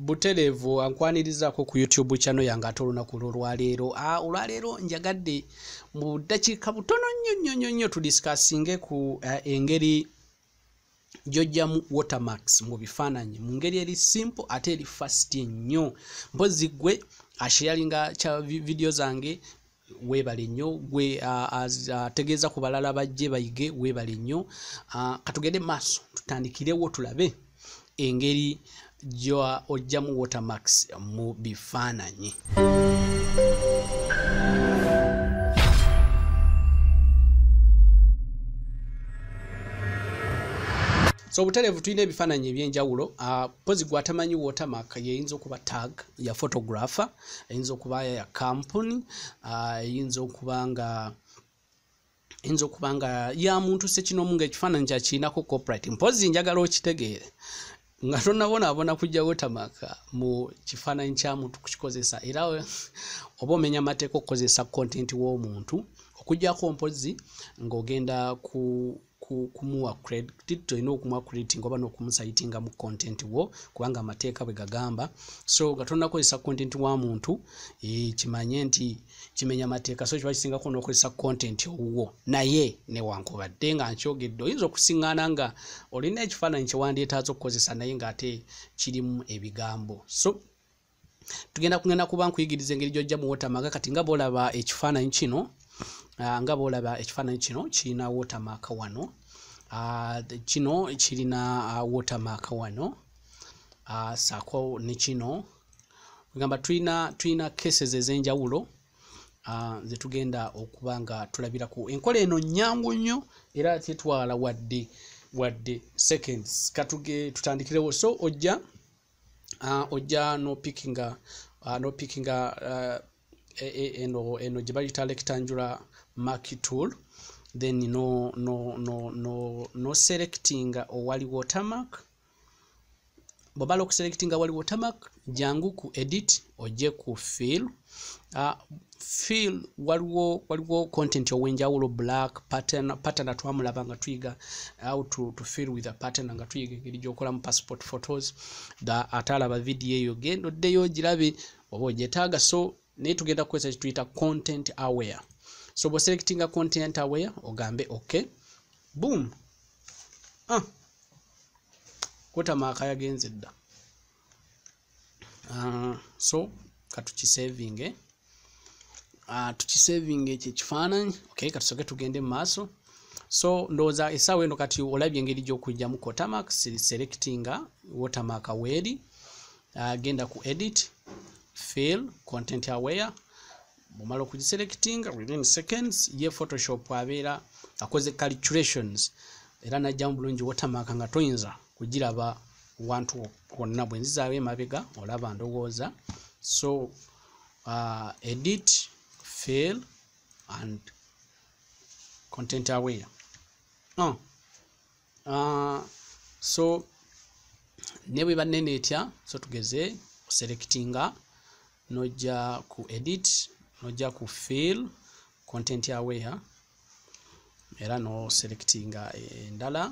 butereevu ankwanirizaako ku youtube channel yange ate olunaku lwolwaleero ah, olwaleero njagadde mu ddakiika butono nnyo nnyo nnyo nnyo tudisikasinge ku eh, engeri gyojjamu watermax mu bifaananyi mu ngeri eri simple ate eri fast nnyo mpozi gwe ashiyalinga kya vidiyo zange webale nnyo gwe ategeeza ku balala bajje bayige webale nnyo katugende maaso tutandikirewo tulabe engeri gyoa ojjamu watermax mu bifaananyi so obutereevu tulina ebifaananyi ebyenjawulo mpozi gwatamanyi watermark yeyinza okuba tag ya photographer eyinza okuba ya kampuni eyinza okuba nga eyinza okuba nga ya muntu sekinomu nga ekifaananyi kyakirinako coprit mpozi njagala okitegeere nga tonabonaabona kujja wotamaka mu kifaananyi kya muntu kukikozesa era oba omenya amateeka okukozesa kontenti w'omuntu okujjako mpozi ng'ogenda ku kumuwa credit tolina okumuwa credit nga oba n'okumusayitinga mu content wo kubanga amateeka bwe gagamba so nga tonakozesa content wa muntu eh, kimanye nti kimenya amateeka so kiba kisingako n'okozesa content owuwo naye newankubadde nga nkyogedde oyinza okusiŋŋana nga olina ekifaananyi kyewandyetaaza okukozesa naye ng'ate kirimu ebigambo so tugenda kugenda kuba nkuyigiriza engeri gyojja mu watermark kati nga bolaba ekifaananyi kino ah, nga bolaba ekifaananyi kino kirina watermark wano ah, kino kirina ah, watermark wano saako ne kino egamba tulina tulina cases ez'enjawulo ze tugenda okuba nga tulabirako enkola eno nnyangu nnyo era tetwala wadde wadde seconds katuge tutandikirewo so ojja uh, ojja nopickinga uh, nopickinga uh, e, e, eno eno gye bayita rectangular mark tool then no no no no no selectinga owali watermark bwobala okuselectinga wali watermark jangu ku edit ojje ku fill Ah, feel waliwo waliwo content owenjawulo black pattern pattern twamulaba nga tuyiga how to, to feel with a pattern nga tuyiga engeri gyokolamu passport photos da atalaba video eyo genda oddeyo ogirabe oba ogyetaaga so naye tugenda kukozesa kituyita content aware so boselectinga content aware ogambe ok boom ah. kotamaaka yagenze dda uh, so katukisevinge uh, tukisevinge ekyo ekifaananyi okay katusoke tugende mu maaso so ndowooza esaawa eno kati olabye engeri gyokujjamu cotamak selectinga watermak weeri uh, genda ku edit fail content aware bumala okugiselectinga within seconds ye photoshop abeera akoze calculations era najjamu bulungi watermak nga toyinza kugiraba wantu wonna bwe nzizaawo emabega olaba ndowooza so uh, edit fail and content aware oh. uh, so ne bwe banene etya so tugeze oselectinga nojja ku edit nojja ku fail content aware era no selectinga endala eh,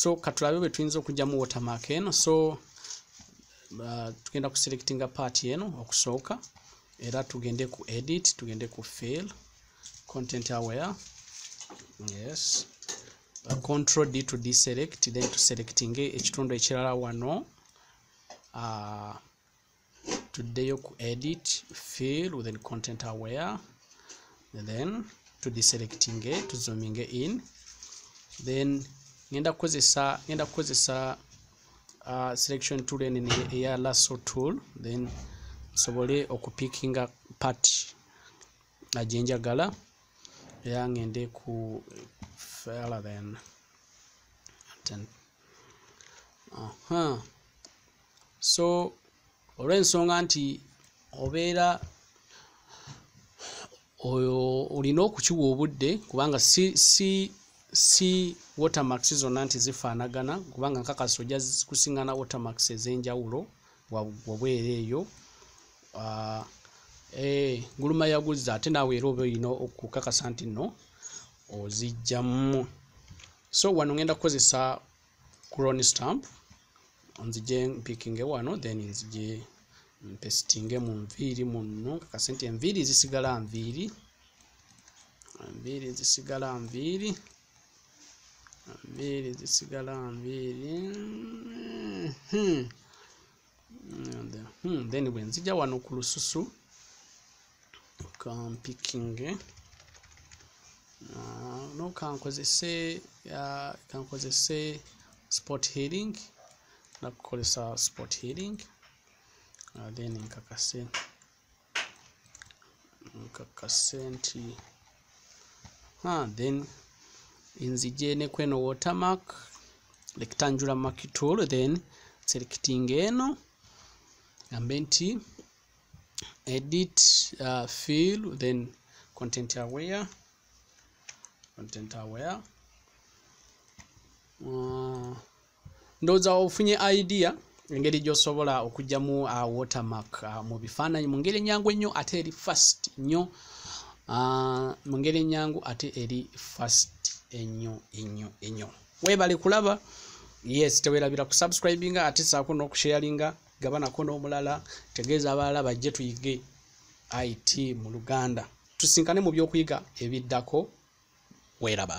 so katulabe bwe tuyinza okugyamu watermark eno so uh, tugenda kuselectinga part eno okusooka era tugende ku edit tugende ku fail content aware yes uh, control d to deselect then tuselectinge ekitundu ekirala wano uh, tuddeyo ku edit fill within content aware then tudiselectinge tuzominge in then ngenda kukozesa ngenda kukozesa uh, selection tool ene eya lasso tool then nsobole okupikinga part ajenjagala era ngende ku fela then uh -huh. so olw'ensonga nti obeera oyo olina okukiwa obudde kubanga si si si watermax zonna nti zifaanagana kubanga nkakasa ojja kusiŋana watermax ez'enjawulo wabweera eyo uh, Eh, guluma yaguzza ate naawe era oba olina okukakasa nti nno ozijjamu so wano ngenda kukozesa crone stamp nzije mpikinge wano then nzije mpesitinge mu nviiri munno kakase nti enviiri zisigala nviiri enviiri zisigala nviiri enviiri zisigala nviiri hmm. hmm, then bwe nzija wano ku lususu kampikinge ah, no kankozese ah, kankozese sport healing nakukozesa sport healing ah, then nkakase nkakase nti ha then nzije ne kweno watermark rectangular mark tool then selecting eno ambe nti edit uh, fill then content aware content aware uh, ndowooza ofunye idea engeri gyosobola okugyamu uh, watermark uh, mu bifaananyi mu ngeri enyangu ennyo ate eri fast nnyo uh, mu ngeri enyangu ate eri fast ennyo ennyo ennyo weebale kulaba yes tewerabira kusubscribinga ate saako n'okusharinga gabanako n'omulala tegeeza abalala bajje tuyige it mu luganda tusinkane mu byokuyiga ebiddako weeraba